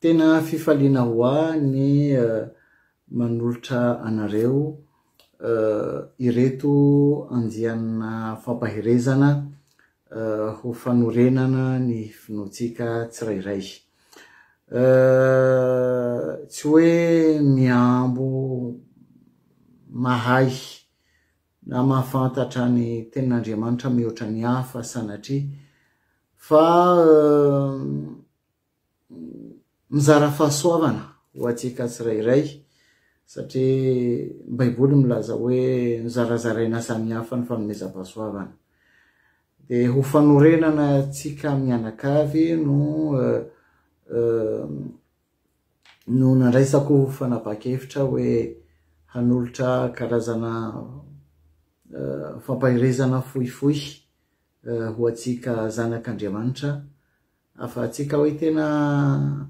Tena fifaliana ho ahy ny manolotra anareo ireto andiana fampaherezana ho fanorenana ny finoantsika tsirairay. Tsy hoe mihambo mahay na mahafantatra ny Tenin'Andriamanitra mihoatra ny hafa sanatria fa mizara fahasoavana ho antsika tsirairay satria ny Baiboly milaza hoe nozarazaraina samihafa ny fanomezam-pahasoavana. Dia ho fanorenana antsika mianakavy no no nandraisako fanapahan-kevitra hoe hanolotra karazana fampaherezana fohifohy ho antsika zanak'Andriamanitra. Afahatsika hoe tena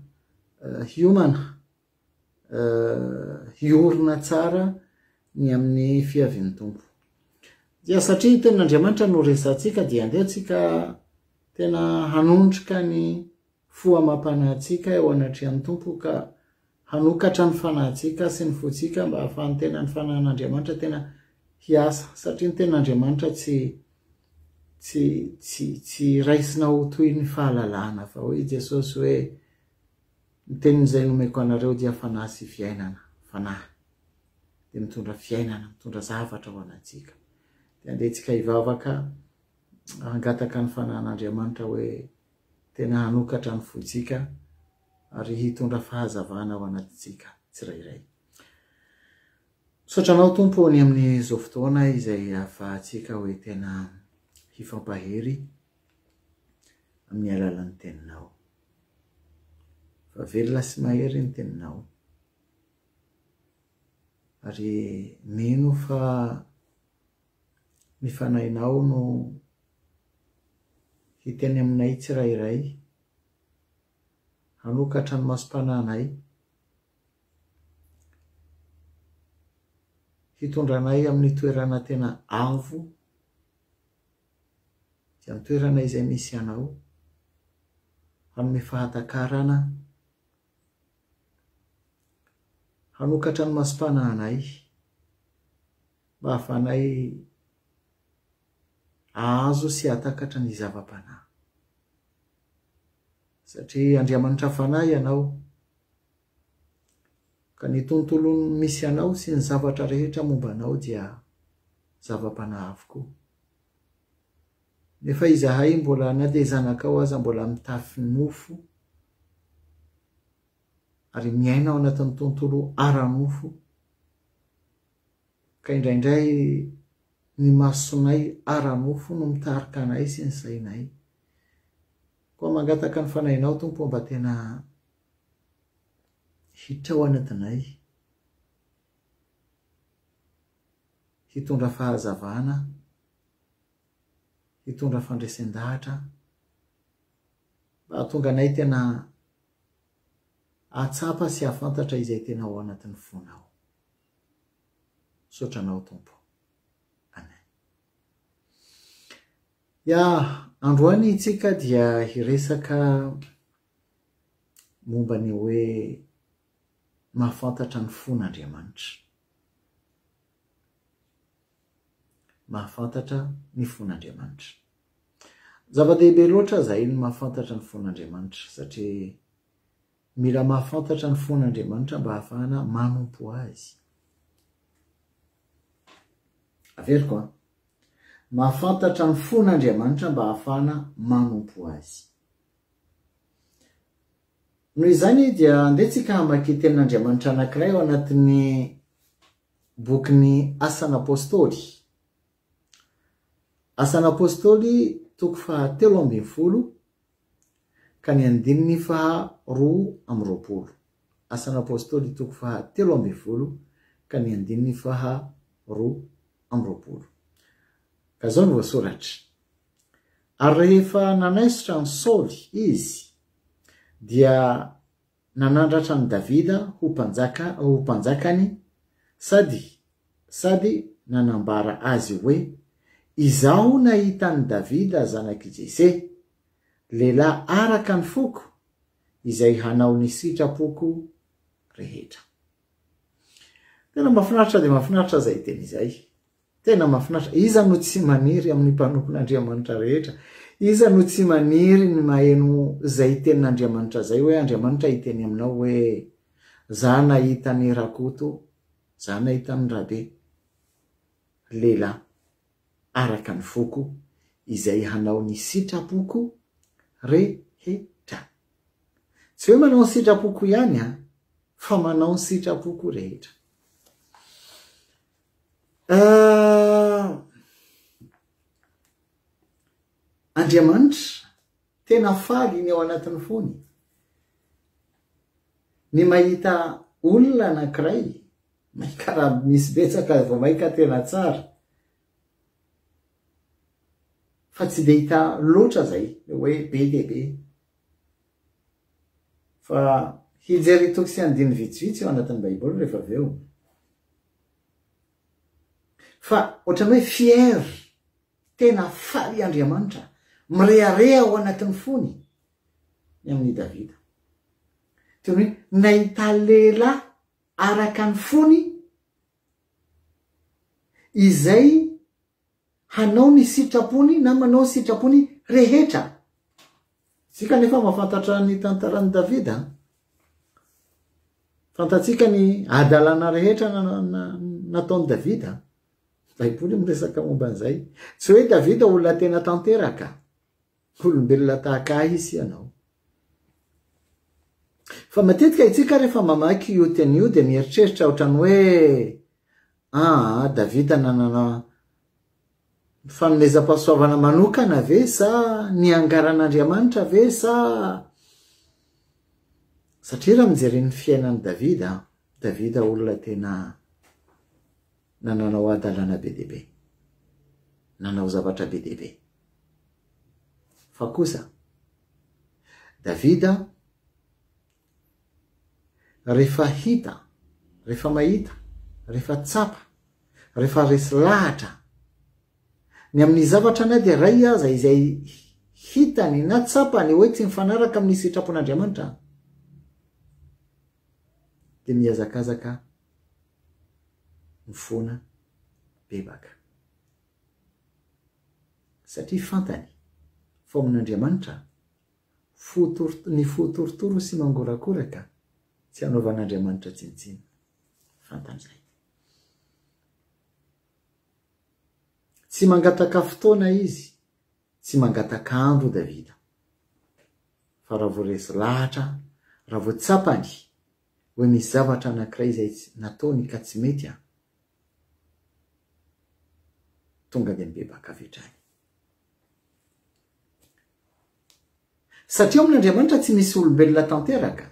hiomana, hiorina tsara ny amin'ny fiavian'ny Tompo. Dia satria ny tenin'Andriamanitra no resahantsika dia andeha tsika tena hanondroka ny fo amam-panahintsika eo anatrehan'ny Tompo ka hanokatra ny fanahintsika sy ny fontsika mba hahafahan'ny tena ny fanahin'Andriamanitra tena hiasa satria ny tenin'Andriamanitra tsy tsy tsy tsy raisina ho toy ny fahalalana fa hoy Jesosy hoe ny tenin'izay nomeko anareo dia fanahy sy fiainana fanahy dia mitondra fiainana mitondra zavatra ho anantsika dia andehantsika hivavaka hangataka ny fanahin'Andriamanitra hoe tena hanokatra ny fontsika ary hitondra fahazavana ho anatintsika tsirairay. Misaotra Anao Tompo ny amin'izao fotoana izay ahafahantsika hoe tena hifampahery amin'ny alalan'ny Teninao. Fa velona sy mahery ny Teninao. Ary mino fa ny Fanahinao no hiteny aminay tsirairay hanokatra ny masom-panahinay, hitondra anay amin'ny toerana tena avo dia ny toerana izay misy Anao, hanome fahatakarana, hanokatra ny masom-panahinay mba hahafahanay hahazo sy hahatakatra ny zava-panahy. Satria Andriamanitra Fanahy ianao, ka ny tontolo misy anao sy ny zavatra rehetra momba anao dia zava-panahy avokoa. Nefa izahay mbola na dia zanakao aza mbola mitafy nofo ary miaina ao anatin'ny tontolo ara-nofo. ka indraindray ny masonay ara-nofo no mitarika anay sy ny sainay. Koa mangataka ny Fanahinao, Tompo ô, mba tena hitrao anadinay, hitondra fahazavana, hitondra fandresen-dahatra, mba hahatonga anay tena hahatsapa sy hahafantatra izay tena ao anatin'ny fonao. Misaotra anao Tompo. Amen. Ya, androany itsika dia hiresaka momba ny hoe mahafantatra ny fon'Andriamanitra. Mahafantatra ny fon'Andriamanitra. Zava-dehibe loatra izay ny mahafantatra ny fon'Andriamanitra satria Mila mahafantatra ny fon'Andriamanitra mba hahafahana manompo Azy. Averiko an! Mahafantatra ny fon'Andriamanitra mba hahafahana manompo Azy. Noho izany dia andeha tsika hamaky tenin'Andriamanitra anankiray ao anatin'ny bokin'ny Asan'Apostoly. Asan'ny Apôstôly, toko faha telo ambin'ny folo ka ny andininy faha roa amby roapolo. Asan'ny Apôstôly, toko faha telo ambin'ny folo ka ny andininy faha roa amby roapolo. Ka zao no voasoratra. Ary rehefa nanaisotra an'i Saoly izy, dia Nanandratra an'i Davida ho mpanjaka ho mpanjakany sady sady nanambara azy hoe, Izaho nahita an'i Davida zanak'i Jese, lehilahy araka ny foko, izay hanao ny sitrapoko rehetra. Tena mahafinaritra dia mahafinaritra izay teny izay. Tena mahafinaritra. Iza no tsy maniry amin'ny mpanompon'Andriamanitra rehetra? Iza no tsy maniry ny maheno izay tenin'Andriamanitra izay hoe Andriamanitra hiteny aminao hoe za nahita an'i Rakoto, za nahita an'i Rabe. Lehilahy araka ny foko izay hanao ny sitrapoko rehetra. Tsy hoe manao ny sitrapoko ihany an, fa manao ny sitrapoko rehetra. Andriamanitra, tena faly ny ao anatin'ny fony. Ny mahita olona anankiray maika raha misy betsaka vao maika tena tsara fa tsy dia hita loatra izay hoe be dia be fa hijery toko sy andininy vitsivitsy ao anatin'ny baiboly rehefa avy eo. Fa ohatran'ny hoe fier, tena faly Andriamanitra, mirehareha ao anatin'ny fony ny amin'i Davida. Toy ny hoe nahita lehilahy araka ny fony izay hanao ny sitrapony na manao ny sitrapony rehetra. Isika anefa mahafantatra ny tantaran'i Davida. Fantatsika ny adalana rehetra nataon'i Davida. Baiboly miresaka momba an'izay. Tsy hoe Davida olona tena tanteraka. Olombelona tahaka ahy sy ianao. Fa matetika itsika rehefa mamaky io teny io dia mieritreritra ohatran'ny hoe aa Davida nanana fanomezam-pahasoavana manokana ve sa niangaran'Andriamanitra ve sa satria raha mijery ny fiainan'i Davida, Davida olona tena Nananao hadalana be dia be. Nanao zavatra be dia be. Fa kosa, Davida, rehefa hita, rehefa mahita, rehefa tsapa, rehefa resy lahatra, ny amin'ny zavatra na dia iray aza izay hitany na tsapany hoe tsy mifanaraka amin'ny sitrapon'Andriamanitra, dia mihazakazaka no foana bebaka. Satria fantany fa ao amin'Andriamanitra ny fo torotoro sy mangorakoraka tsy hanaovan'Andriamanitra tsinontsinona. Fantany izay. Tsy mangataka fotoana izy, tsy mangataka andro Davida. Fa raha vao resy lahatra, raha vao tsapany Hoe misy zavatra anankiray izay nataony ka tsy mety an! Tonga dia mibebaka avy hatrany. Satria ao amin'Andriamanitra tsy misy olombelona tanteraka.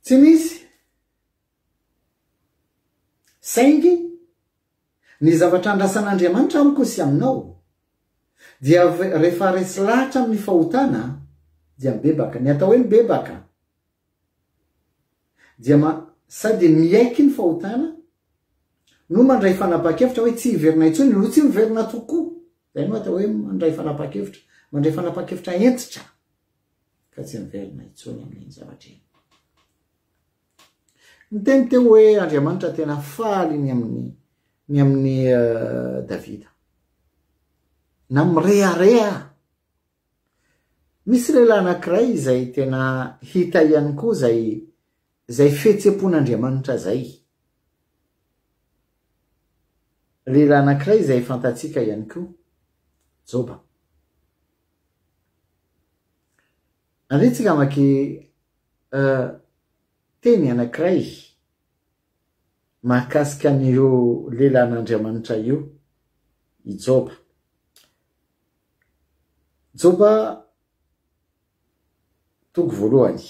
Tsy misy. Saingy Ny zavatra andrasan'Andriamanitra amiko sy aminao dia rehefa resy lahatra amin'ny fahotana dia mibebaka. Ny atao hoe mibebaka dia sady miaiky ny fahotana no mandray fanapahan-kevitra hoe tsy hiverina intsony no tsy miverina tokoa. Izay no atao hoe mandray fanapahan-kevitra. Mandray fanapahan-kevitra hentitra ka tsy miverina intsony amin'iny zavatra iny. Niteny teo hoe Andriamanitra tena faly ny amin'ny ny amin'i Davida. Na mirehareha. Misy lehilahy anankiray izay tena hita ihany koa izay izay fihetseham-pon'Andriamanitra izay. Lehilahy anankiray izay fantatsika ihany koa, Joba. Aretsy ngamba ke euh teny anankiray mahakasika an'io lelan'Andriamanitra io i Joba. Joba toko voalohany.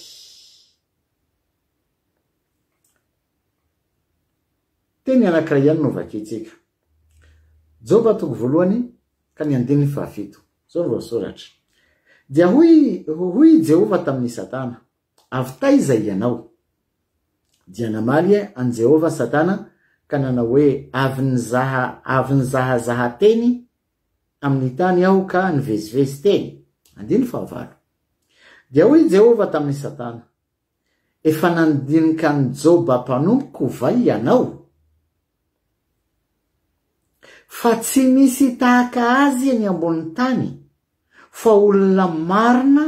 Teny anankiray ihany no vakintsika. Joba toko voalohany ka ny andininy fahafito. Izao no voasoratra, Dia hoy hoy i Jehovah tamin'i Satana, Avy taiza ianao? Dia namaly an'i Jehovah Satana ka nanao hoe, Avy nizaha avy nizahazaha teny amin'ny tany aho ka nivezivezy teny. Andininy fahavalo. Dia hoy i Jehovah tamin'i Satana, Efa nandinika an'i Joba mpanompoko va ianao? Fa tsy misy tahaka azy eny ambonin'ny tany, fa olona marina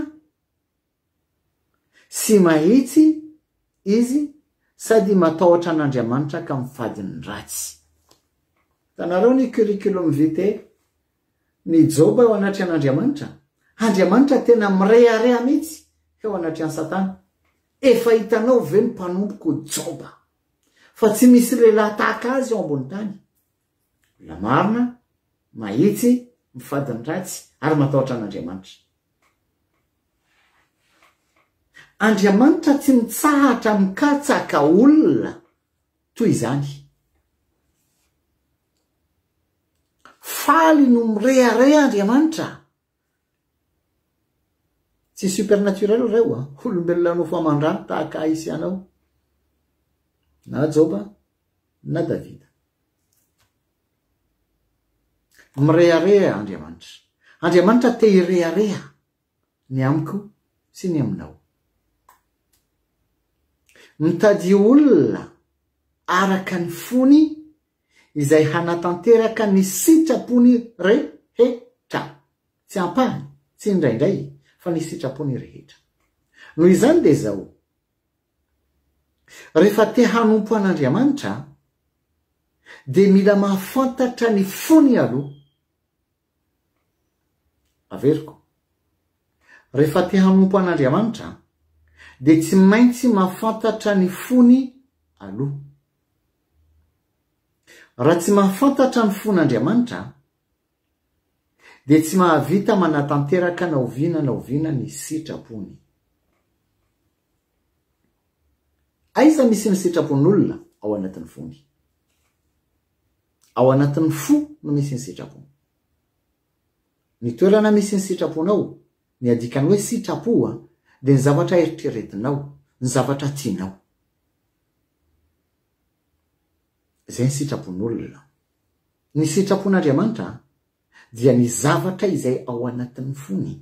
sy mahitsy izy sady matahotra an'Andriamanitra ka mifady ny ratsy. Hitanareo ny curriculum vitae? Ny Joba eo anatrehan' Andriamanitra, Andriamanitra tena mirehareha mihitsy eo anatrehan'i Satana, Efa hitanao ve ny mpanompoko Joba, fa tsy misy lehilahy tahaka azy eo ambony tany? Olona marina, mahitsy, mifady ny ratsy, ary matahotra an' Andriamanitra. Andriamanitra tsy mitsahatra mikatsaka olona. Toy izany. Faly no mirehareha Andriamanitra. Tsy supernaturel ireo a. Olombelona nofo aman-drano tahaka ahy sy anao. Na Joba, na Davida. Mirehareha Andriamanitra. Andriamanitra te hirehareha. ny amiko sy ny aminao. Mitady olona araka ny fony izay hanatanteraka ny sitrapony rehetra, tsy ampahany, tsy indraindray, fa ny sitrapony rehetra. Noho izany dia izao, rehefa te hanompo an'Andriamanitra dia mila mahafantatra ny fony aloha. Averiko. Rehefa te hanompo an'Andriamanitra dia tsy maintsy mahafantatra ny fony aloha. Raha tsy mahafantatra ny fon'Andriamanitra dia tsy mahavita manatanteraka na oviana na oviana ny sitrapony. Aiza misy ny sitrapon'olona ao anatin'ny fony? Ao anatin'ny fo no misy ny sitrapo. Ny toerana misy ny sitraponao, ny adikan'ny hoe sitrapo dia ny zavatra eritreretinao, ny zavatra tianao. Izay ny sitrapon'olona. Ny sitrapon'Andriamanitra dia ny zavatra izay ao anatin'ny fony.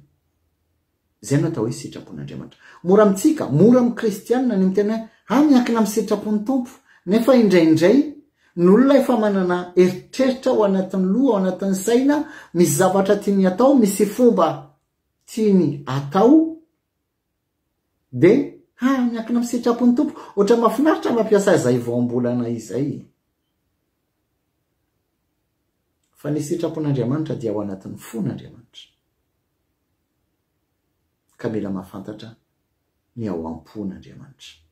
Izay no atao hoe sitrapon'Andriamanitra. Mora amintsika, mora amin'ny kristiana ny miteny hoe, ah, miankina amin'ny sitrapon'ny Tompo. Nefa indraindray, ny olona efa manana eritreritra ao anatin'ny loha, ao anatin'ny saina, misy zavatra tiany atao, misy fomba tiany atao, Dia ha miankina amin'ny sitrapon'ny Tompo. Ohatran'ny mahafinaritra ny mampiasa izay voambolana izay. Fa ny sitrapon'Andriamanitra dia ao anatin'ny fon'Andriamanitra. Ka mila mahafantatra ny ao am-pon'Andriamanitra.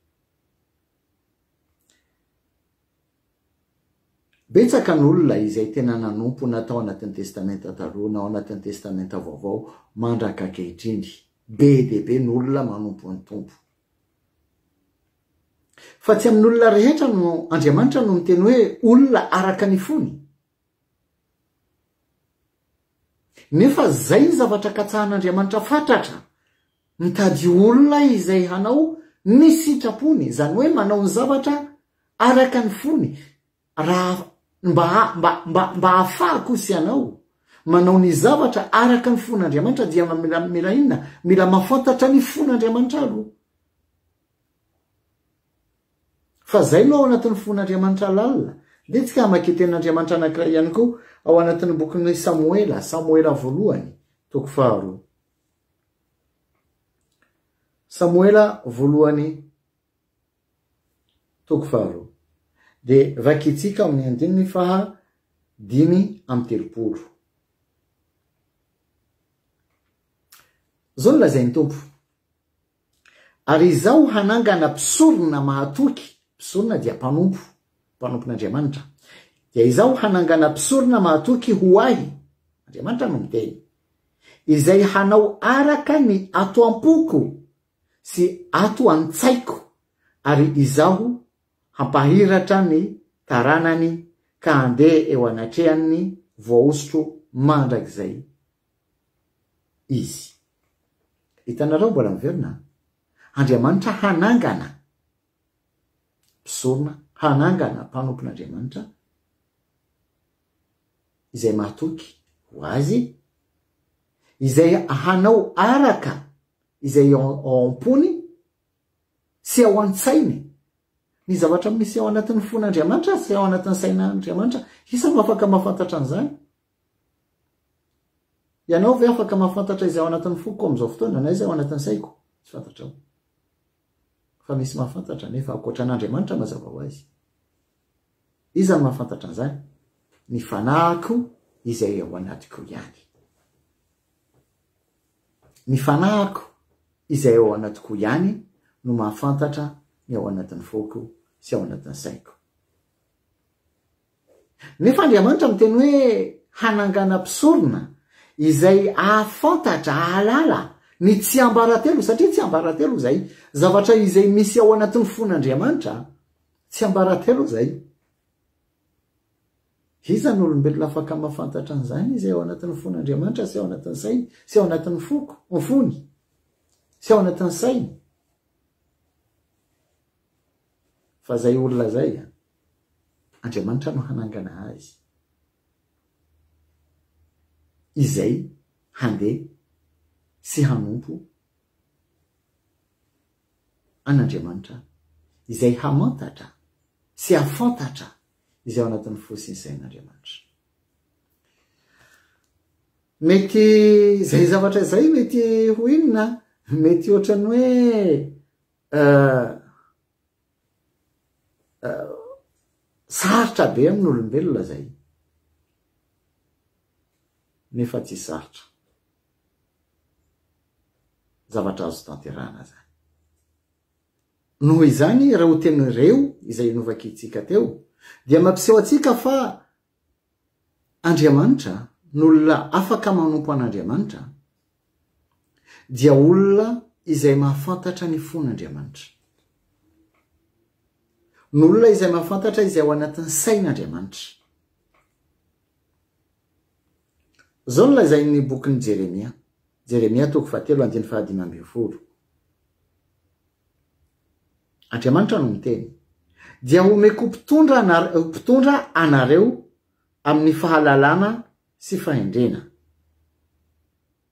Betsaka ny olona izay tena nanompo na tao anatin'ny Testamenta Taloha na ao anatin'ny Testamenta Vaovao mandraka ankehitriny. Be dia be ny olona manompo ny Tompo. Fa tsy amin'olona rehetra no Andriamanitra no miteny hoe olona araka ny fony. Nefa izay ny zavatra katsahan'Andriamanitra fatratra, mitady olona izay hanao ny sitrapony, izany hoe manao ny zavatra Araka ny fony, raha mba mba mba mba ahafahako sy ianao manao ny zavatra araka ny fon'Andriamanitra dia mila mila inona? Mila mahafantatra ny fon'Andriamanitra aloha. Fa zay no ao anatin'ny fon'Andriamanitra lalina. Dia tsika hamaky io tenin'Andriamanitra anankiray ihany koa ao anatin'ny bokin'i Samoela, Samoela voalohany, toko faharoa. Samoela voalohany Toko faharoa. Dia rakintsika ao amin'ny andininy faha dimy amby telopolo. Izao no lazain'ny Tompo, Ary Izaho hanangana mpisorona mahatoky, mpisorona dia mpanompo, mpanompon'Andriamanitra, dia Izaho hanangana mpisorona mahatoky ho Ahy, Andriamanitra no miteny, izay hanao araka ny ato am-poko, sy ato an-tsaiko ary izaho hampahiratra ny taranany ka handeha eo anatrehan'ny voahosotro mandrakizay izy. Hitanareo mbola miverina? Andriamanitra hanangana mpisorona, hanangana mpanompon'Andriamanitra izay mahatoky ho azy, izay hanao araka izay ao am-pony sy ao an-tsainy. Ny zavatra misy ao anatin'ny fon'Andriamanitra sy ao anatin'ny sain'Andriamanitra, iza no afaka mahafantatra an'izany? Ianao ve afaka mahafantatra izay ao anatin'ny foko amin'izao fotoana na izay ao anatin'ny saiko? Tsy fantatrao. Fa misy mahafantatra nefa ankoatra an'Andriamanitra mazava ho azy. Iza no mahafantatra an'izany? Ny fanahiko izay ao anatiko ihany. Ny fanahiko izay ao anatiko ihany no mahafantatra ny ao anatin'ny foko sy ao anatin'ny saiko. Nefa Andriamanitra miteny hoe hanangana mpisorona izay ahafantatra, ahalala ny tsiambaratelo, satria tsiambaratelo izay zavatra izay misy ao anatin'ny fon'Andriamanitra, tsiambaratelo izay. Iza no olombelona afaka mahafantatra an'izany? Izay ao anatin'ny fon'Andriamanitra sy ao anatin'ny sainy sy ao anatin'ny foko, ny fony sy ao anatin'ny sainy. Fa izay olona izay, Andriamanitra no hanangana azy. Izay handeha sy hanompo an'Andriamanitra izay hamantatra sy hahafantatra izay ao anatin'ny fo sy ny sain'Andriamanitra. Mety izay zavatra izay mety ho inona? Mety ohatran'ny hoe uh, uh, sarotra be amin'olombelona izay. Nefa tsy sarotra. zavatra azo tanterahana zany. Noho izany, raha ho teny reo izay novakitsika teo, dia mampiseho antsika fa Andriamanitra, ny olona afaka manompo an'Andriamanitra, dia olona izay mahafantatra ny fon'Andriamanitra. Ny olona izay mahafantatra izay ao anatin'ny sain'Andriamanitra. Izao no lazain'ny bokin'i Jeremia, Jeremia toko fahatelo andininy fahadimy ambin'ny folo, Andriamanitra no miteny, Dia homeko mpitondra mpitondra anareo amin'ny fahalalana sy fahendrena.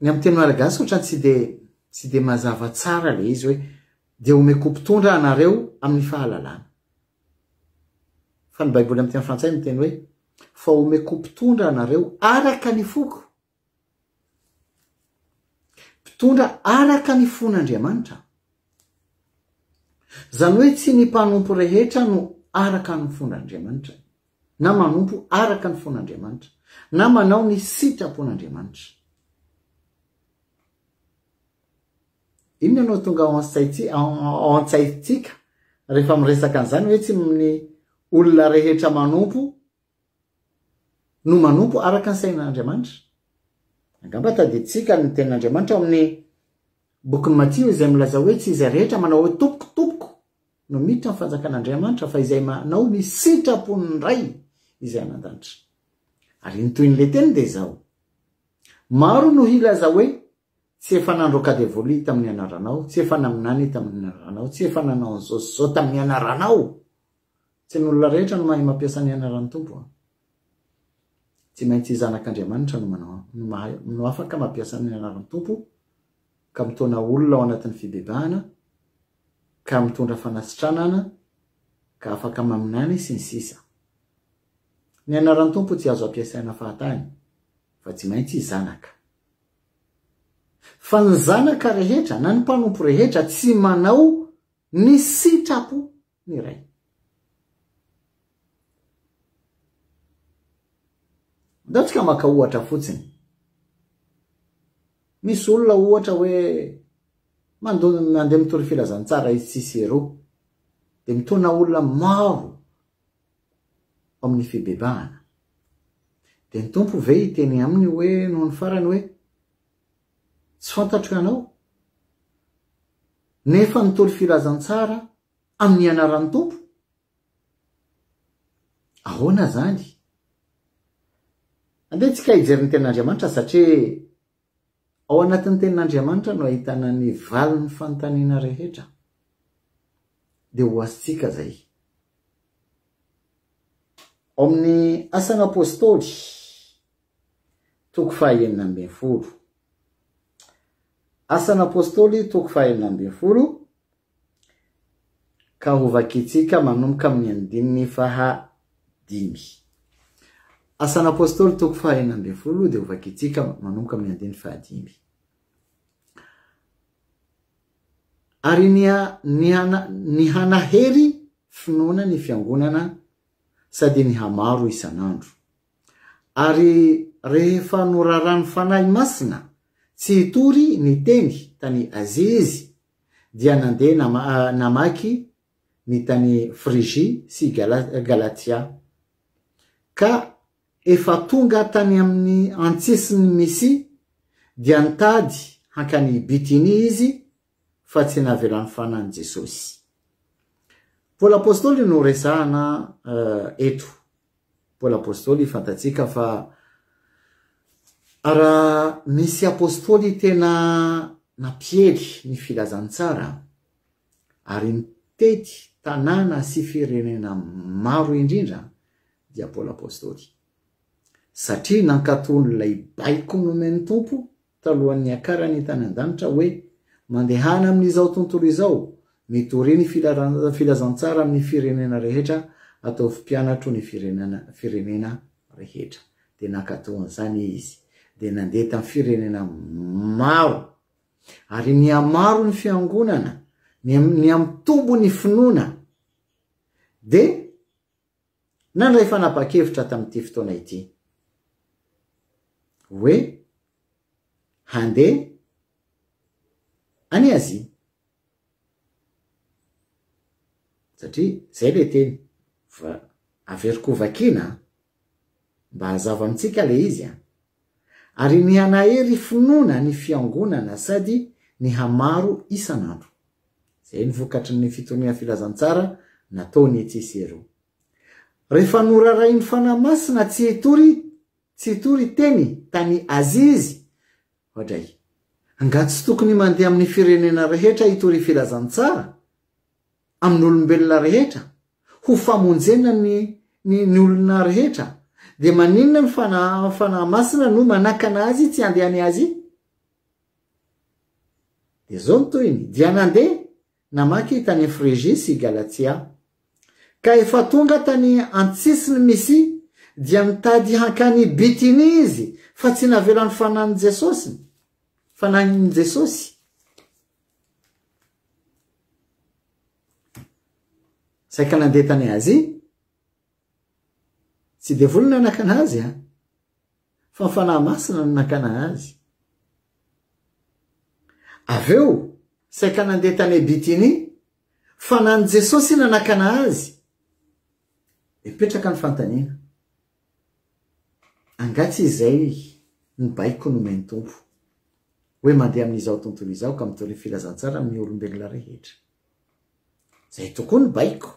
Ny amin'ny teny malagasy ohatrany tsy dia tsy dia mazava tsara ilay izy hoe dia omeko mpitondra anareo amin'ny fahalalana. Fa ny baiboly amin'ny teny frantsay miteny hoe fa omeko mpitondra anareo araka ny foko. Mpitondra araka ny fon'Andriamanitra. Izany hoe tsy ny mpanompo rehetra no araka ny fon'Andriamanitra. na manompo araka ny fon'Andriamanitra, na manao ny sitrapon'Andriamanitra. Inona no tonga ao an-tsaintsika, ao an-tsaintsika rehefa miresaka an'izany hoe tsy ny olona rehetra manompo no manompo araka ny sain'Andriamanitra? Angamba tadidintsika ny tenin'Andriamanitra ao amin'ny bokin'i Matio izay milaza hoe tsy izay rehetra manao hoe tompoko, tompoko no miditra ny fanjakan'Andriamanitra fa izay manao ny sitrapon'ny Ray izay any an-danitra. Ary ny tohin'ilay teny dia izao, Maro no hilaza hoe, Tsy efa nandroaka devoly tamin'ny anaranao, tsy efa naminany tamin'ny anaranao, tsy efa nanao an'izao sy izao tamin'ny anaranao. Tsy ny olona rehetra no mahay mampiasa ny anaran'ny Tompo. Tsy maintsy zanak'Andriamanitra no manao no mahay no afaka mampiasa ny anaran'ny Tompo ka mitaona olona ao anatin'ny fibebahana ka mitondra fanasitranana ka afaka maminany sy ny sisa Ny anaran'ny Tompo tsy azo ampiasaina fahatany fa tsy maintsy zanaka Fa ny zanaka rehetra na ny mpanompo rehetra tsy manao ny sitrapo ny Ray. Andeontsika maka ohatra fotsiny. Misy olona ohatra hoe mandon- andeha mitory filazantsara izy tsisy eroa. Dia mitona olona maro ao amin'ny fibebahana. Dia ny Tompo ve hiteny aminy hoe noho ny farany hoe tsy fantatro ianao? Nefa nitory filazantsara amin'ny anaran'ny Tompo? Ahoana izany? Andeha tsika hijery ny tenin'Andriamanitra satria ao anatin'ny tenin'Andriamanitra no ahitana ny valin'ny fanontaniana rehetra. Dia ho azontsika izay. Ao amin'ny Asan'ny Apostoly, toko fahenina ambin'ny folo. Asan'ny Apostoly, toko fahenina ambin'ny folo, Ka ho vakintsika manomboka amin'ny andininy faha dimy. Asan'ny Apôstôly toko faha enina ambin'ny folo dia ho vakintsika manomboka amin'ny andininy faha dimy. Ary ny hanahery finoana ny fiangonana sady ny hamaro isan'andro. Ary rehefa noraràn'ny Fanahy Masina tsy hitory ny teny tany Azia izy, dia nandeha nama, namaky ny tany Frigia sy Gala, Galatia. Ka efa tonga tany amin'ny antsisin'ny Misia, dia nitady hankany Bitinia izy, fa tsy navelany fanan'i Jesosy. Paoly apostoly no resahana eto. Paoly Apostoly fantatsika fa raha misy Apostoly tena nampiely ny filazantsara ary nitety tanàna sy firenena maro indrindra dia Paoly Apostoly. Satria nankatò an'ilay baiko nomen'ny Tompo talohan'ny hiakarany hitany an-danitra hoe, Mandehana amin'izao tontolo izao, mitoria ny filazantsara amin'ny firenena rehetra, ataovy mpianatro ny firenena rehetra. Dia nankatò an'izany izy, dia nandeha tamin'ny firenena maro. Ary nihamaro ny fiangonana, niha-mitombo ny finoana. Dia. nandray fanapahan-kevitra tamin'ity fotoana ity hoe handeha any Azia. Satria izay ilay teny, averiko ho vakiana an! Mba hazava amintsika le izy an! Ary ny hanahery finoana ny fiangonana sady ny hamaro isan'andro. Zay ny vokatry ny fitoriana filazantsara nataony etsy sy eroa. Refa norarahin'ny Fanahy Masina tsy hitory tsy hitory teny tany Azia izy oadray. Angaha tsy tokony mandeha amin'ny firenena rehetra hitory filazantsara? amin'olombelona rehetra ho famonjena ny ny ny olona rehetra dia maninona ny fanahy fanahy masina no manakana azy tsy handeha any Azia? Dia zao ny tohiny, dia nandeha namaky tany Frijia sy Galatia. Ka efa tonga tany antsisiny Misia dia nitady hankany Bitinia izy fa tsy navelan'ny fanahin'i Jesosy, fanahin'i Jesosy. Saika nandeha tany Azia. Tsy devoly no nanakana azy an. Fa ny fanahy masina no nakana azy. Avy eo, saika nandeha tany Bitinia. Fanan'i Jesosy nanakana azy. Mipetraka ny fanontaniana. Angaha tsy izay ny baiko nomen'ny Tompo, hoe mandeha amin'izao tontolo izao ka mitory ny filazantsara amin'ny olombelona rehetra? Izay tokoa ny baiko.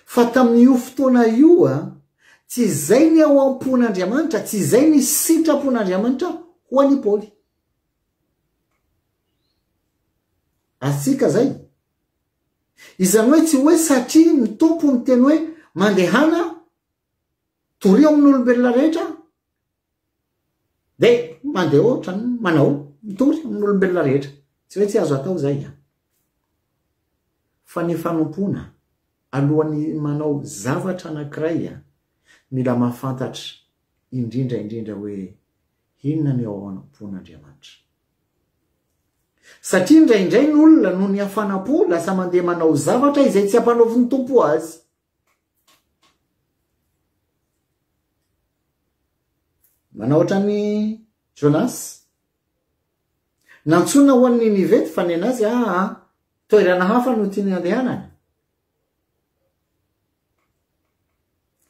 Fa tamin'io fotoana io, tsy izay ny ao am-pon'Andriamanitra, tsy izay ny sitrapon'Andriamanitra ho an'i Paoly. Azontsika izay. Izany hoe tsy hoe satria ny Tompo niteny hoe mandehana Torio amin'ny olombelona rehetra aho. Dia mandeha ohatrany, manao, mitory amin'ny olombelona rehetra. Tsy hoe tsy azo atao izay. Fa ny fanompoana, alohan'ny manao zavatra anankiray, mila mahafantatra indrindra indrindra hoe inona ny ao am-pon'Andriamanitra. Satria indraindray ny olona noho ny hafana-po lasa mandeha manao zavatra izay tsy ampanaovin'ny Tompo azy. Manao ohatran'ny Jonas. Nantsoina ho an'ny Ninive ny fanena azy, ah, ah, toerana hafa no tiany handehanana.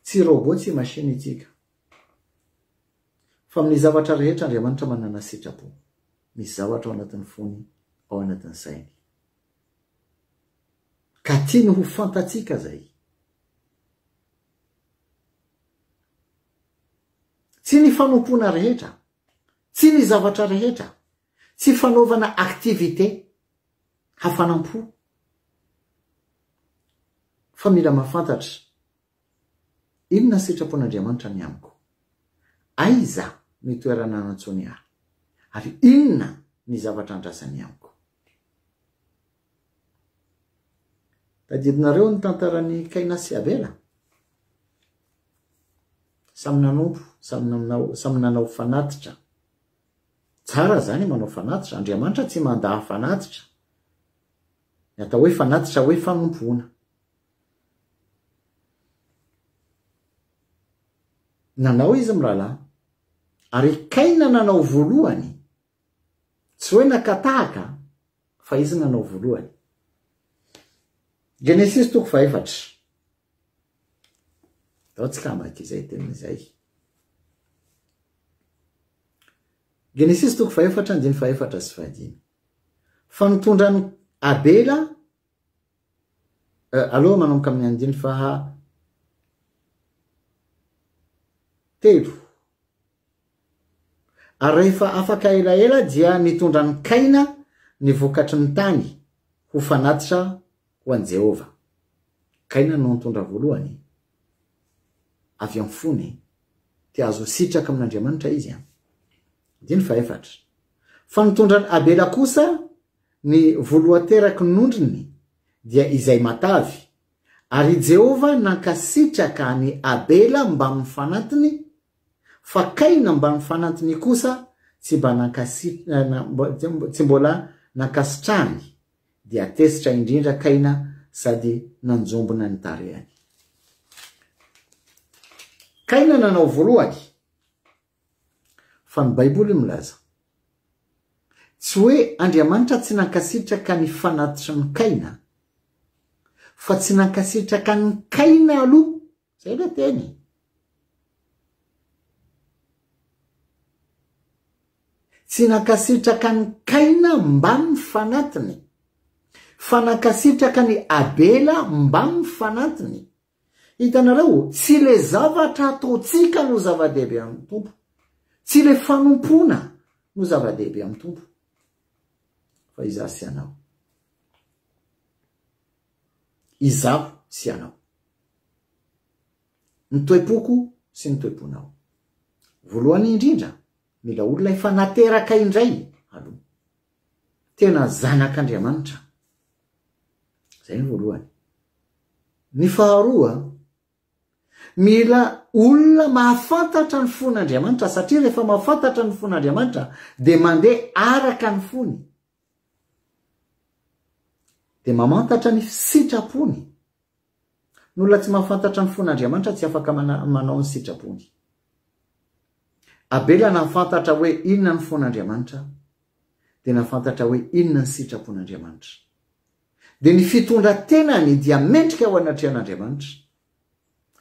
Tsy robot, tsy machine itsika. Fa amin'ny zavatra rehetra Andriamanitra manana sitrapo. Misy zavatra ao anatin'ny fony, ao anatin'ny sainy. Ka tiany ho fantatsika izay. Tsy ny fanompoana rehetra, tsy ny zavatra rehetra, tsy fanaovana activité hafanam-po, fa mila mahafantatra inona sitrapon'Andriamanitra ny amiko, aiza ny toerana nantsoiny ahy, ary inona ny zavatra andrasany amiko. Tadidinareo ny tantaran'i Kaina sy Abela? Samy nanompo, samy nanao, samy nanao fanatitra. Tsara izany manao fanatitra, Andriamanitra tsy mandà fanatitra. Ny atao hoe fanatitra hoe fanompoana. Nanao izy mirahalahy. Ary Kaina nanao voalohany Tsy hoe nakatahaka an, fa izy nanao voalohany. Genesisy toko fahefatra. Ao tsika hamaky izay teny izay. Genesisy toko fahefatra andiny fahefatra sy fahadimy. Fa nitondran'i Abela euh, aloha manomboka amin'ny andiny faha telo Ary rehefa afaka elaela dia nitondra an'i Kaina ny vokatry ny tany ho fanatitra ho an'i Jehovah. Kaina no nitondra voalohany. Avy amin'ny fony, te hahazo sitraka amin'Andriamanitra izy. Andininy fahefatra. Fa nitondra an'i Abela kosa ny voloateraky ny ondriny, dia izay matavy. Ary i Jehovah nankasitraka an'i Abela mbamin'ny fanatiny Fa Kaina mban'ny fanantiny kosa tsy mba nankasitrahany, tsy mbola nankasitrahany, dia tezitra indrindra Kaina sady nanjombona ny tarehany. Kaina nanao voalohany, fa ny Baiboly milaza, tsy hoe Andriamanitra tsy nankasitraka ny fanatitry ny Kaina, fa tsy nankasitraka an'i Kaina aloha Zay le teny e. Tsy nankasitraka an'i Kaina mbamin'ny fanatiny, fa nankasitraka an'i Abela mbamin'ny fanatiny. Hitanareo, tsy le zavatra ataontsika no zava-dehibe amin'ny Tompo, tsy le fanompoana no zava-dehibe amin'ny Tompo, fa izaho sy ianao. Izaho sy ianao. Ny toe-poko sy ny toe-ponao. Voalohany indrindra, mila olona efa nateraka indray aloha. Tena zanak'Andriamanitra. Izay ny voalohany. Ny faharoa, mila olona mahafantatra ny fon'Andriamanitra satria rehefa mahafantatra ny fon'Andriamanitra dia mandeha araka ny fony. Dia mamantatra ny sitrapony. Ny olona tsy mahafantatra ny fon'Andriamanitra tsy afaka manao ny sitrapony. Abela nahafantatra hoe inona ny fon'Andriamanitra, dia nahafantatra hoe inona ny sitrapon'Andriamanitra. Dia ny fitondran-tenany dia mendrika ho anatrehan'Andriamanitra.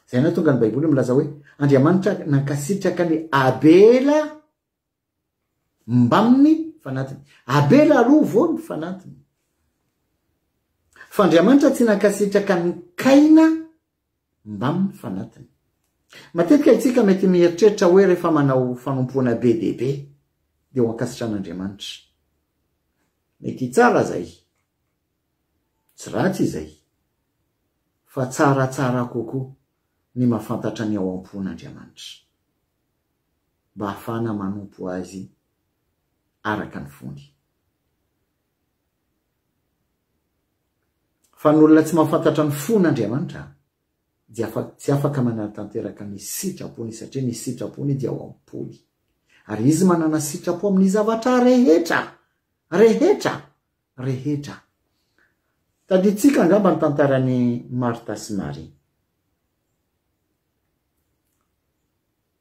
Izay nahatonga ny Baiboly milaza hoe Andriamanitra nankasitraka ny Abela. Mbamin'ny fanatiny. Abela aloha vao ny fanatiny. Fa Andriamanitra tsy nankasitraka an'i Kaina mbamin'ny fanatiny. Matetika isika mety mieritreritra hoe rehefa manao fanompoana be dia be dia ho ankasitran'Andriamanitra. Mety tsara izay. Tsy ratsy izay. Fa tsaratsara kokoa ny mahafantatra ny ao am-pon'Andriamanitra. mba hahafahana manompo Azy araka ny fony. Fa ny olona tsy mahafantatra ny fon' Andriamanitra dia tsy afaka manatanteraka ny sitrapony, satria ny sitrapony dia ao am-pony. Ary Izy manana sitrapo amin'ny zavatra rehetra, rehetra! rehetra. Tadintsika angamba ny tantaran'i Martha sy Maria.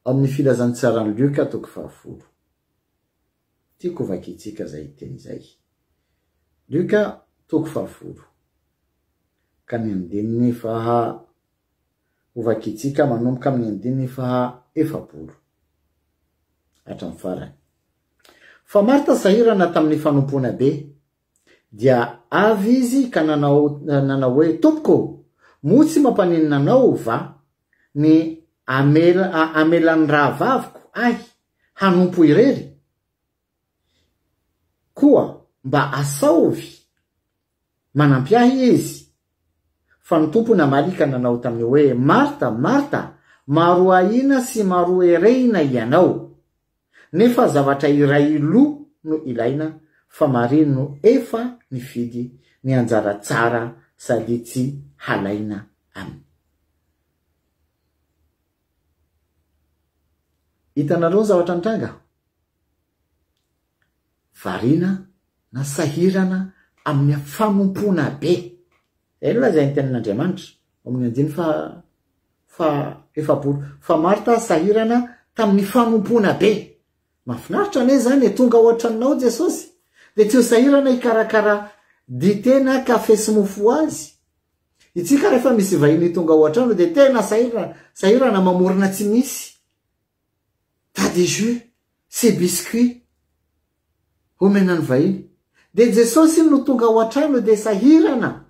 Ao amin'ny filazantsaran'i Lioka toko fahavolo. Tiako ho vakintsika izay teny izay. Lioka toko fahavolo. Ka ny andininy faha ho vakintsika manomboka amin'ny andininy faha efapolo. Hatramin'ny farany. Fa Marta sahirana tamin'ny fanompoana be, dia avy izy ka nanao nanao hoe, Tompoko ô, moa tsy mampaninona anao va ny hamela hamelan'ny rahavaviko ahy hanompo irery? Koa mba asaovy Manampy ahy Izy. Fa ny Tompo namaly ka nanao taminy hoe, Marta, Marta, maro ahiana sy maro erehina hianao. Nefa zavatra iray lo no ilaina, fa Maria no efa nifidy ny anjara tsara sady tsy halaina aminy. Hitanareo ny zavatra nitranga? variana na sahirana amin'ny fanompoana be. Izay no lazain'ny Tenin'Andriamanitra ao amin'ny andininy faha faha efapolo fa Marta sahirana tamin'ny fanompoana be. Mahafinaritra anie izany e, tonga ao an-tranonao Jesosy dia tsy ho sahirana hikarakara dite na kafe sy mofo ho Azy. Itsika rehefa misy vahiny tonga ao an-trano dia tena sahirana sahirana mamorona tsy misy. Pas de jeu, c'est biscuit omena ny vahiny. Dia Jesosy no tonga ao an-trano dia sahirana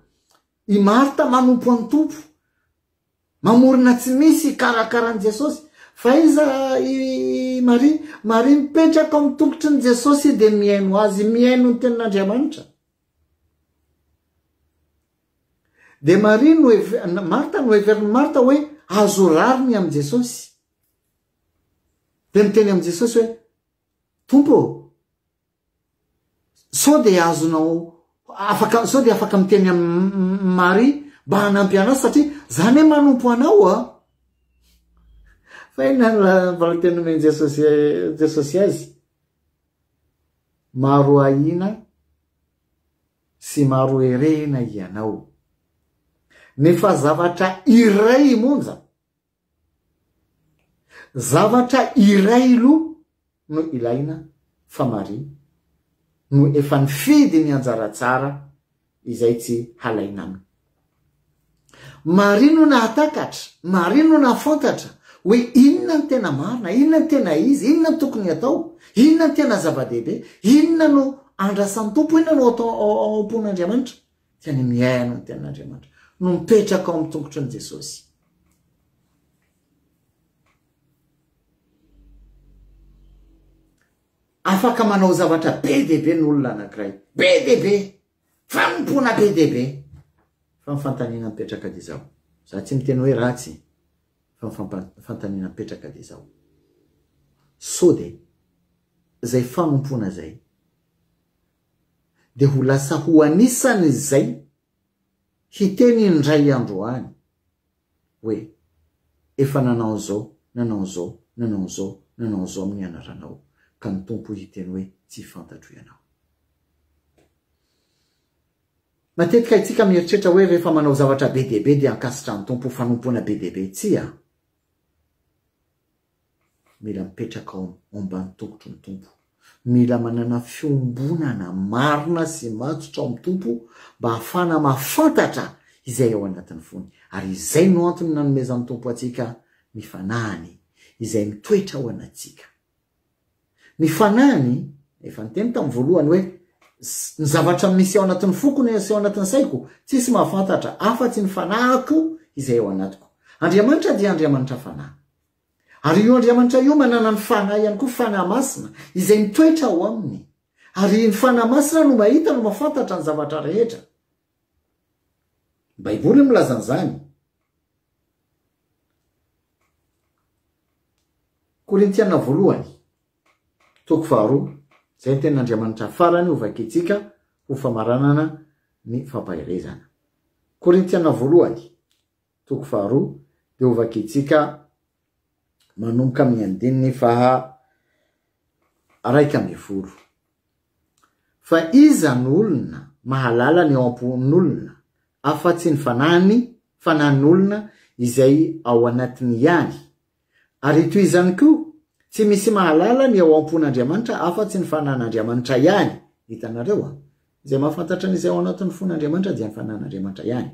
i Marta manompo an'i Tompo. Mamorona tsy misy hikarakara an'i Jesosy. Fa iza i Maria? Maria mipetraka ao amin'ny tongotry ny Jesosy dia mihaino Azy, mihaino ny tenin'Andriamanitra. Dia Maria no Marta no heverin'i Marta hoe azo rariny amin'i Jesosy. Dia niteny amin'i Jesosy hoe, Tompo ô, sao dia azonao, afaka, sao dia afaka miteny amin'i Maria mba hanampy anao satria za anie manompo anao a. Fa inona no valinteny nomen'i Jesosy, Jesosy azy? Maro ahiana sy maro herena ianao. Nefa zavatra iray monja. Zavatra iray loha no ilaina fa Maria no efa nifidy ny anjara tsara izay tsy halaina aminy. Maria no nahatakatra, Maria no nahafantatra hoe inona no tena marina, inona no tena izy, inona no tokony atao, inona no tena zava-dehibe, inona no andrasan'ny Tompo, inona no ao am-pon'Andriamanitra. Ka ny mihaino ny tenin'Andriamanitra no mipetraka ao amin'ny tongotry ny Jesosy. Afaka manao zavatra be dia be ny olona anankiray. Be dia be. Fanompoana be dia be. Fa ny fantaniana mipetraka dia izao. Za tsy miteny hoe ratsy. Fa ny fantaniana mipetraka dia izao. Sao dia izay fanompoana izay dia ho lasa ho anisan' izay hiteny indray andro any hoe, Efa nanao an'izao, nanao an'izao, nanao an'izao, nanao an'izao amin'ny anaranao, ka ny Tompo hiteny hoe, Tsy fantatro ianao. Matetika isika mieritreritra hoe rehefa manao zavatra be dia be dia ankasitrahan'ny Tompo ho fanompoana be dia be. Tsia. Mila mipetraka ao ambany tongotry ny Tompo. Mila manana fiombonana marina sy matotra ao amin'ny Tompo mba hahafahana mahafantatra izay ao anatin'ny fony. Ary izay no antony nanomezan'ny Tompo antsika ny fanahiny izay mitoetra ao anatsika. Ny fanahiny, efa niteny tamin'ny voalohany hoe, Ny zavatra misy ao anatin'ny foko no aseho ao anatin'ny saiko, tsisy mahafantatra afa-tsy ny fanahiko izay ao anatiko. Andriamanitra dia Andriamanitra fanahy. Ary io Andriamanitra io manana ny fanahy ihany koa, fanahy masina, izay mitoetra ao aminy. Ary ny fanahy masina no mahita, no mahafantatra ny zavatra rehetra. Ny Baiboly no milaza an'izany. Korintiana voalohany, toko faharoa, izay ny tenin'Andriamanitra farany hovakintsika ho famaranana ny fampaherezana. Korintiana voalohany, toko faharoa, dia hovakintsika manomboka amin'ny andininy faha raika ambin'ny folo. Fa iza no olona mahalala ny ao am-pon'olona afa-tsy ny fanahiny, fanahin'olona izay ao anatiny ihany? Ary toizany koa, tsy misy mahalala ny ao am-pon'Andriamanitra afa-tsy ny fanahin'Andriamanitra ihany. Hitanareo? Izay mahafantatra ny izay ao anatin'ny fon'Andriamanitra dia ny Fanahin'Andriamanitra ihany.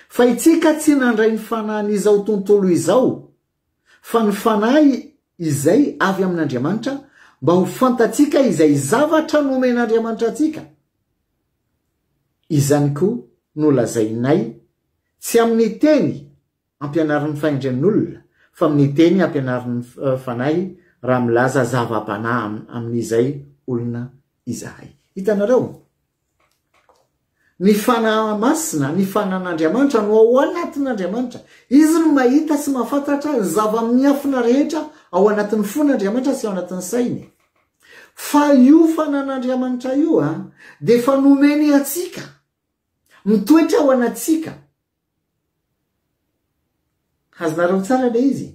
Fa itsika tsy nandray ny fanahin'izao tontolo izao, fa ny Fanahy izay avy amin'Andriamanitra, mba ho fantatsika izay zavatra nomen'Andriamanitra antsika. Izany koa no lazainay, tsy amin'ny teny Ampianarin'ny fahendren'olona, fa amin'ny teny ampianarin'ny Fanahy raha milaza zava-panahy amin'izay olona izahay. Hitanareo? Ny Fanahy Masina, ny Fanan'Andriamanitra no ao anatin'Andriamanitra. Izy no mahita sy mahafantatra ny zava-miafina rehetra ao anatin'ny fon'Andriamanitra sy ao anatin'ny sainy. Fa io Fanan'Andriamanitra io dia efa nomeny antsika, mitoetra ao anatsika. Azonareo tsara ilay izy?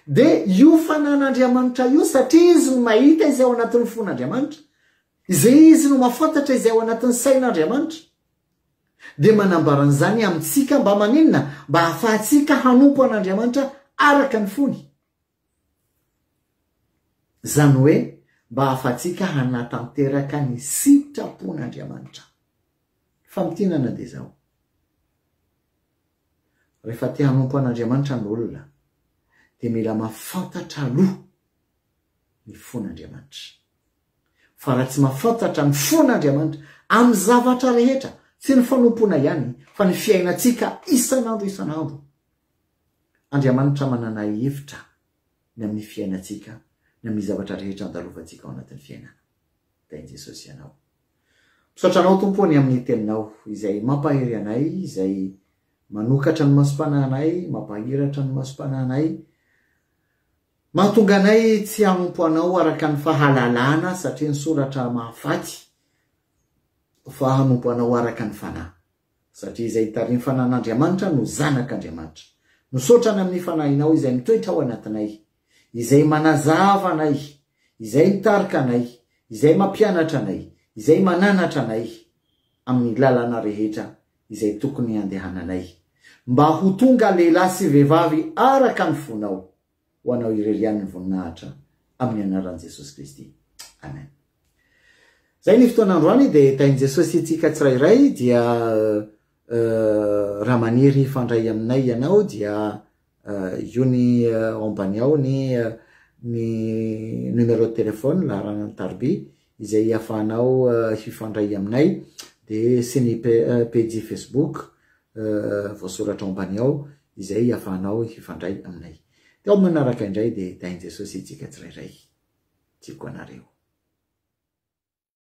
Dia io fanan'Andriamanitra io, satria izy no mahita izay ao anatin'ny fon'Andriamanitra, izay izy no mahafantatra izay ao anatin'ny sain'Andriamanitra, dia manambara an'izany amintsika mba maninona? Mba hahafahantsika hanompo an'Andriamanitra araka ny fony. Izany hoe mba ahafahantsika hanatanteraka ny sitrapon'Andriamanitra. Ny famintinana dia izao, rehefa te hanompo an'Andriamanitra ny olona dia mila mahafantatra aloha ny fon'Andriamanitra. Fa raha tsy mahafantatra ny fon'Andriamanitra amin'ny zavatra rehetra, tsy ny fanompoana ihany fa ny fiainantsika isan'andro isan'andro, Andriamanitra manana hevitra ny amin'ny fiainantsika, ny amin'ny zavatra rehetra andalovantsika ao anatin'ny fiainana. Dia an'i Jesosy ianao. Misaotra Anao, Tompo ô, ny amin'ny Teninao, izay mampahery anay, izay manokatra ny masom-panahinay, mampahiratra ny masom-panahinay, mahatonga anay tsy hanompo Anao araka ny fahalalana, satria ny soratra mahafaty fa hanompo Anao araka ny fanahy. Satria izay hitariny fanan'Andriamanitra no zanak'Andriamanitra. Misaotra Any amin'ny Fanahinao izay mitoetra ao anatinay, izay manazava anay, izay mitarika anay, izay mampianatra anay, izay mananatra anay amin'ny lalana rehetra izay tokony handehananay, mba ho tonga lehilahy sy vehivavy araka ny fonao. ho anao irery ihany ny voninahitra amin'ny anaran'i Jesosy Kristy. Amen. Zay ny fotoana androany dia tahin'i Jesosy antsika tsirairay dia raha maniry hifandray aminay ianao dia io ny ambany ao ny ny numéro de téléphone laharana ny tarby izay hiafahanao hifandray aminay dia sy ny page Facebook voasoratra ao ambany ao izay afahanao hifandray aminay. Dia ao manaraka indray dia tahin'i Jesosy antsika tsirairay. Tiako anareo.